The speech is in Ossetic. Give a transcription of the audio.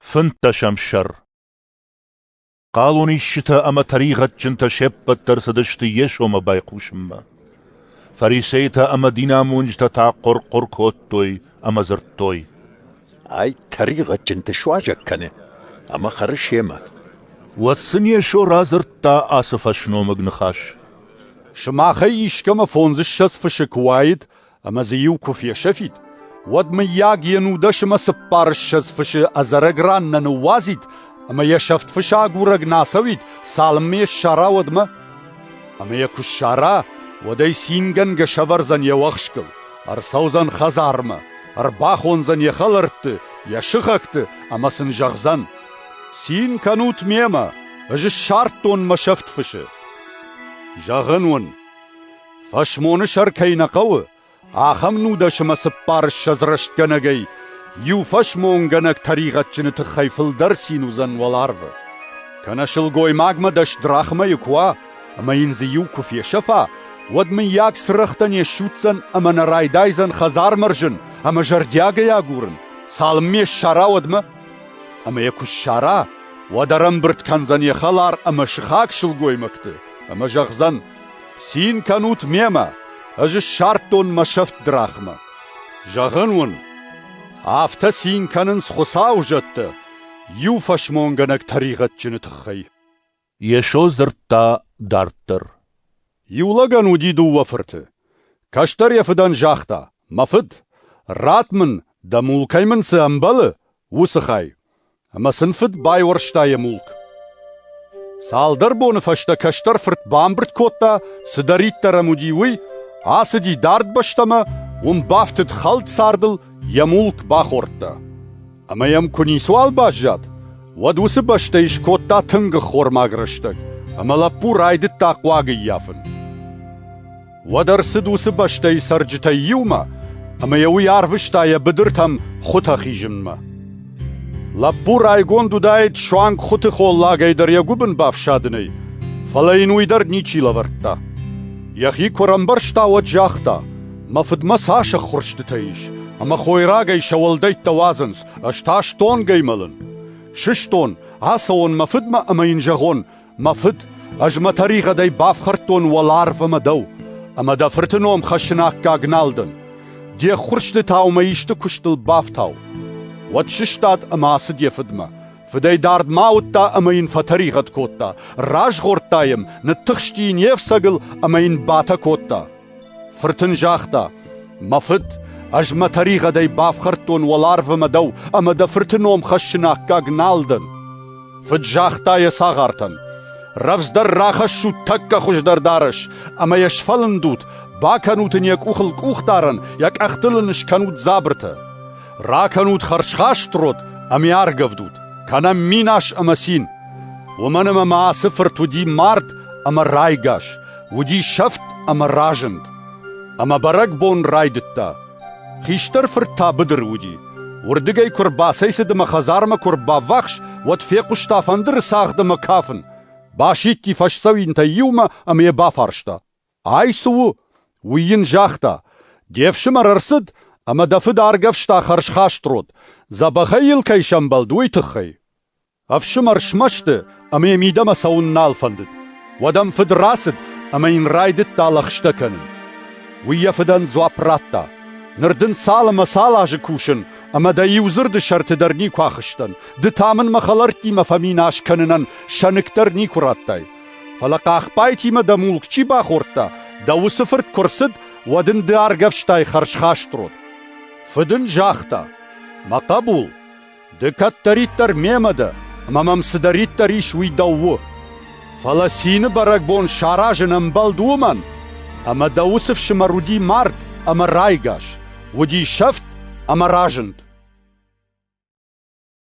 Фынддӕсӕм сӕр Хъалонисджытӕ ӕмӕ тӕригъӕдджынтӕ се ппӕт дӕр цыдысты Йесомӕ байхъусынмӕ. Фарисейтӕ ӕмӕ динамонджытӕ та хъуыр-хъуыр кодтой ӕмӕ дзырдтой. «Ай тӕригъӕдджынты суазӕг кӕны, ӕмӕ хӕры семӕ». Уӕд сын Йесо радзырдта ацы фӕсномыг ныхас. «Сымахӕй искӕмӕ фондзыссӕдз фысы куы уаид ӕмӕ дзы иу куы фесӕфид, уӕд, мыййаг, йе нудӕсымӕ цыппар ссӕдз фысы ӕдзӕрӕг ран нӕ ныууадзид ӕмӕ йӕ сӕфт фысы агурӕг нӕ ацӕуид, цалынмӕ йӕ ссара, уӕдмӕ? Ӕмӕ йӕ куы ссара, уӕд ӕй цингӕнгӕ сӕвӕрдзӕн йӕ уӕхскыл, ӕрцӕудзӕн хӕдзармӕ, ӕрбахондзӕн йӕ хӕлӕртты, йӕ сыхӕгты ӕмӕ сын зӕгъдзӕн: «Цин кӕнут мемӕ, ӕз ссардтон мӕ сӕфт фысы!» Зӕгъын уын, Фӕсмоны сӕр кӕй нӕ хъӕуы, ахӕм нудӕсымӕ цыппар ссӕдз рӕстгӕнӕгӕй иу фӕсмонгӕнӕг тӕригъӕдджыны тыххӕй фылдӕр цин уыдзӕн уӕларвы. Кӕнӕ сылгоймагмӕ дӕс драхмӕйы куы уа, ӕмӕ йын дзы иу куы фесӕфа, уӕд мыййаг цырӕгътӕ не ссудздзӕн ӕмӕ нӕ райдайдзӕн хӕдзармӕ рзын ӕмӕ зӕрдиагӕй агурын, цалынмӕ ссара, уӕдмӕ. Ӕмӕ йӕ куы ссара, уӕд ӕрӕмбырд кӕндзӕн йӕ хӕлар ӕмӕ сыхаг сылгоймӕгты ӕмӕ зӕгъдзӕн, Цин кӕнут мемӕ, ӕз ссардтон мӕ сӕфт драхмӕ. Зӕгъын уын, афтӕ цин кӕнынц Хуыцауы зӕдтӕ, иу фӕсмонгӕнӕг тӕригъӕдджыны тыххӕй. Йесо дзырдта дарддӕр. Иу лӕгӕн уыди дыууӕ фырты. Кӕстӕр йӕ фыдӕн загъта: «Мӕ фыд, ратт мын, дӕ мул кӕй мын цы ӕмбӕлы, уыцы хай». Ӕмӕ сын фыд байуӕрста йӕ мулк. Цалдӕр боны фӕстӕ кӕстӕр фырт бамбырд кодта, цыдӕриддӕр ӕм уыди, уый, ацыди дард бӕстӕмӕ, уым бафтыд хӕлд цардыл, йӕ мулк бахордта. Ӕмӕ йӕм куы ницуал баззад, уӕд уыцы бӕстӕй скодта тынг ӕххормаг рӕстӕг, ӕмӕ лӕппу райдыдта хъуаг ӕййафын. Уӕд ӕрцыд уыцы бӕстӕйы цӕрджытӕй иумӕ, ӕмӕ йӕ уый арвыста йӕ быдыртӕм хуытӕ хизынмӕ. Лӕппу райгонд уыдаид суанг хуыты холлагӕй дӕр йӕ гуыбын бафсадынӕй, фӕлӕ йын уый дӕр ничи лӕвӕрдта. Йӕхи куы ӕрӕмбӕрста, уӕд загъта, «Мӕ фыдмӕ цас ӕххуырстытӕ ис, ӕмӕ хойрагӕй сӕ уӕлдӕйттӕ уадзынц, ӕз та стонгӕй мӕлын. Сыстон, ацӕуон мӕ фыдмӕ ӕмӕ йын зӕгъон, Мӕ фыд, ӕз мӕ тӕригъӕдӕй бафхӕрдтон уӕларв ӕмӕ дӕу, ӕмӕ дӕ фырты ном хӕссыны аккаг нал дӕн. Де ххуырстытау мӕ исты куыстыл бафтау. Уӕд сыстад ӕмӕ ацыд йӕ фыдмӕ. Фыдӕй дард ма ауыдта ӕмӕ йын фӕтӕригъӕд кодта. Разгъордта йӕм, ныттыхсти йын йе фцӕгыл ӕмӕ йын батӕ кодта. Фырт ын загъта: «Мӕ фыд, ӕз мӕ тӕригъӕдӕй бафхӕрдтон уӕларвы мӕ дӕу ӕмӕ дӕ фырты ном хӕссыны аккаг нал дӕн». Фыд загъта йӕ цагъартӕн: «Рӕвдздӕр рахӕссут тӕккӕ хуыздӕр дарӕс ӕмӕ йӕ сфӕлындут, бакӕнут ын йӕ къухыл къухдарӕн, йӕ къӕхтыл ын скӕнут дзабыртӕ. Ракӕнут хӕрзхаст род ӕмӕ аргӕвдут, кӕнӕм минас ӕмӕ цин. Уымӕн ӕмӕ мӕ ацы фырт уыди мард ӕмӕ райгас, Уыди сӕфт ӕмӕ разынд, ӕмӕ бӕрӕгбон райдыдта. Хистӕр фырт та быдыры уыди. Уырдыгӕй куы рбацӕйцыд ӕмӕ хӕдзармӕ куы ӕрбаввахс, уӕд фехъуыста фӕндыры цагъд ӕмӕ кафын. Басидти фӕсдзӕуинтӕй иумӕ ӕмӕ йӕ бафарста: «Ай цы у?» Уый йын загъта: «Де фсымӕр ӕрцыд ӕмӕ дӕ фыд аргӕвста хӕрзхаст род, дзӕбӕхӕй йыл кӕй сӕмбӕлд, уый тыххӕй». Ӕфсымӕр смӕсты ӕмӕ йӕ мидӕмӕ цӕуын нал фӕндыд. Уӕд ӕм фыд рацыд ӕмӕ йын райдыдта лӕгъстӕ кӕнын. Уый йӕ фыдӕн дзуапп радта: «Ныр дын цал ӕмӕ цал азы кусын, ӕмӕ дӕ иу дзырды сӕрты дӕр никуы ахызтӕн, ды та мын мӕ хӕлӕрттимӕ фӕминас кӕнынӕн сӕныкк дӕр никуы радтай. Фӕлӕ хъахбайтимӕ дӕ мулк чи бахордта, дӕ уыцы фырт куы рцыд, уӕд ын ды аргӕвстай хӕрзхаст род». Фыд ын загъта: «Мӕ хъӕбул, Ды кӕддӕриддӕр мемӕ дӕ, ӕмӕ мӕм цыдӕриддӕр ис, уый дӕу у. Фӕлӕ цины бӕрӕгбон саразын ӕмбӕлд уымӕн, ӕмӕ дӕ уыцы фсымӕр уыди мард ӕмӕ райгас, уыди сӕфт ӕмӕ разынд.